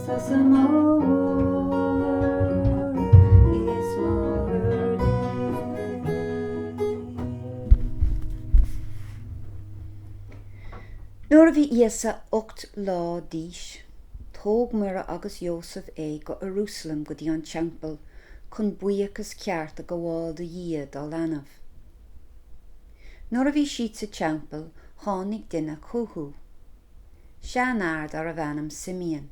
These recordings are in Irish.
'Sé do bheatha, a Mháthair Dé. Nuair a bhí Íosa ocht lá d'aois, tóg Muire agus Iósaf é go Ierúsalem go dtí an teampall chun buíochas ceart a gabháil do Dhia dá leanbh. Nuair a bhí siad sa teampall tháinig duine chúthu. seanfhear darbh ainm Simeon.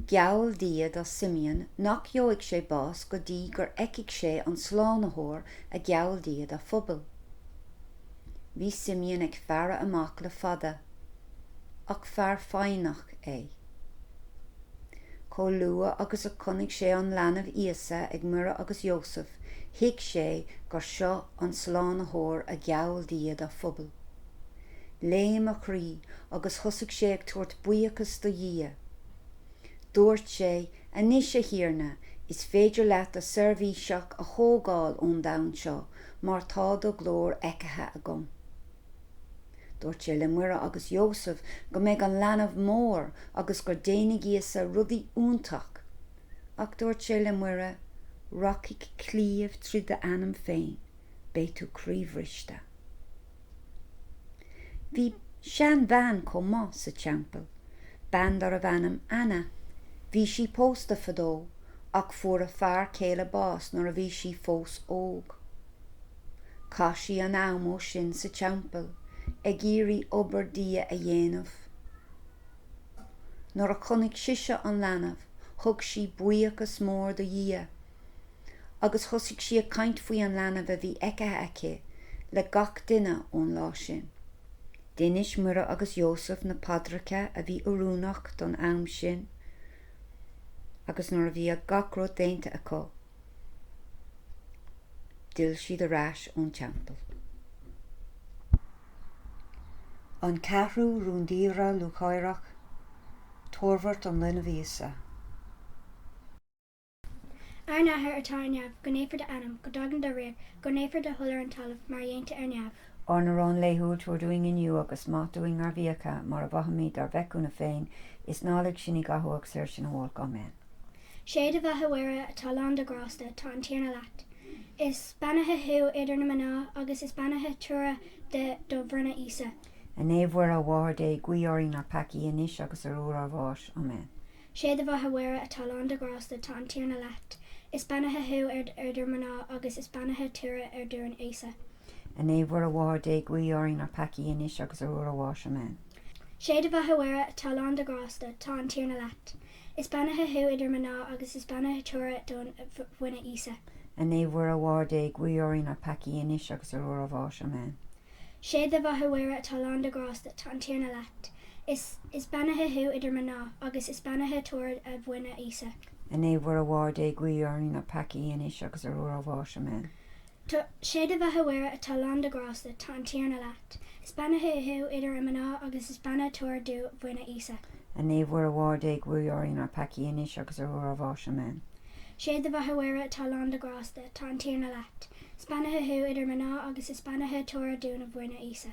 Geall Dia do Simeon nach gheobhaidh sé bás go dtí gur fheicfidh sé an Slánaitheoir a gheall Dia dá phobal. Bhí Simeon ag faire amach le fada, ach fear foighneach é. Chomh luath agus a chonaic sé an leanbh Íosa ag Muire agus Iósaf, thuig sé gur seo an Slánaitheoir a gheall Dia dá phobal. Léim a chroí agus thosaigh sé ag tabhairt buíochas do Dhia. Dúirt sé, 'Anois, a Thiarna, is féidir leat do sheirbhíseach a thógáil ón domhan seo mar tá do ghlóir feicthe agam. Dúirt sé le Muire agus Iósaf go mbeidh an leanbh mór agus gur déanfaidh Íosa rudaí iontach. Ach dúirt sé le Muire, 'Rachaidh claíomh tríd d'anam féin, beidh tú croíbhriste. Bhí seanbhean chomh maith sa teampall, bean darbh ainm Anna. Bhí sí pósta fadó ach fuair a fear céile bás nuair a bhí sí fós óg. Chaith sí an am ó sin sa teampall ag iarraidh obair Dia a dhéanamh. Nuair a chonaic sise an leanbh thug sí buíochas mór do Dhia. agus thosaigh sí ag caint faoi an leanbh a bhí feicthe aici le gach duine ón lá sin. Déanann Muire agus Iósaf na paidreacha a bhí oiriúnach don am sin agus nuair a bhí gach rud déanta acu, d'fhill siad ar ais ón teampall. An Ceathrú Rúndiamhair Lúcháireach, Toirbhirt an Linbh Íosa. Ár nAthair atá ar neamh, go naofar d'ainm, go dtagann do ríocht, go naofar do thoil ar an talamh mar a dhéantar ar neamh. Ár n-arán laethúil tabhair dúinn inniu, agus maith dúinn ár bhfiacha, mar a mhaithimid dár bhféichiúna féin, is ná lig sinn i gcathú ach saor sinn ó olc. Áiméan. Sé do Bheatha Mhuire atá lán de ghrásta, tá an Tiarna leat. Is beannaithe thú idir na mná, agus is beannaithe toradh do bhroinne, Íosa. A Naomh Mhuire, a Mháthair Dé, guigh orainn na peacaigh, anois agus ar uair ár bháis. Áiméan. Sé do bheatha Mhuire atá lán de ghrásta tá an Tiarna leat. Is beannaithe thú idir mná agus is beannaithe toradh do bhroinne, Íosa. A Naomh Mhuire a Mháthair Dé guigh orainn na peacaigh anois agus ar uair ár bháis. Amen. Sé do bheatha Mhuire atá lán de ghrásta tá an Tiarna leat. Is beannaithe thú idir mná agus is beannaithe toradh do bhroinne Íosa. A Naomh Mhuire a Mháthair Dé guigh orainn na peacaigh anois agus ar uair ár bháis. Amen. Sé do bheatha Mhuire atá lán de ghrásta tá an Tiarna leat. Is beannaithe thú idir mná, agus is beannaithe toradh do bhroinne, Íosa. A Naomh Mhuire a Mháthair Dé guigh orainn na peacaigh anois agus ar uair ár bháis. Amen. Sé do bheatha Mhuire atá lán de ghrásta, tá an Tiarna leat. Is beannaithe thú idir mná agus is beannaithe toradh do bhroinne, Íosa. A Naomh Mhuire a Mháthair Dé guigh orainn na peacaigh anois agus ar uair ár bháis. Amen. Sé do bheatha Mhuire atá lán de ghrásta, tá an Tiarna leat. Is beannaithe thú idir mná agus is beannaithe toradh do bhroinne, Íosa.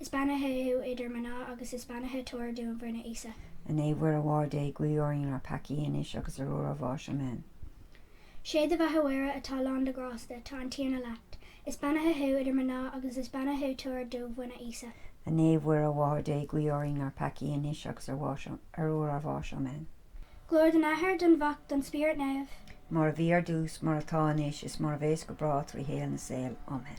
Is beannaithe thú idir mná agus is beannaithe toradh do bhroinne, Íosa. A Naomh Mhuire a Mháthair Dé, guigh orainn na peacaigh, anois agus ar uair ár bháis. Amen. Sé do Bheatha Mhuire atá lán de ghrásta, tá an Tiarna leat. Is beannaithe thú idir mná agus is beannaithe toradh do bhroinne, Íosa. A Naomh Mhuire a Mháthair Dé, guigh orainn na peacaigh, anois agus ar uair ár bháis. Amen. Glóir don Athair, don Mhac, don Spiorad Naomh. Mar a bhí ar dtús, mar atá anois, is mar a bhéas go bráth trí shaol na saol. Amen.